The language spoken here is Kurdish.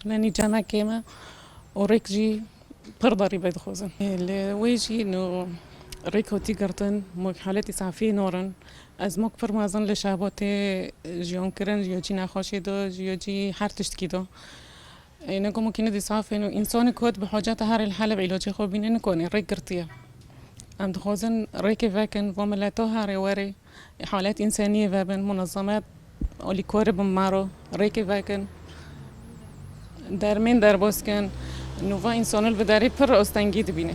Hûna nîcana kêm e û rêk jî pir darî bê dixwazin. Li wê jî no rêk hatî girtin ma ku haletê safiyê narin. Ez ma ku pir mezin li şehbatê jiyankirin ji ya cî nexweşê de ji ya cî her tiştkî de. Îne goma kî nedî saf ên û însanê ku hat bi haceta herê li Heleb îlacê xwe bîne nikanê rêk girtiye. Em dixwazin rêkê vekin va mileta herê werê. Halet înseniyê vebin munezemet alî kori bin maro rêkê vekin dermên derbas kin nûva însanil bi derê pir astengî dibîne.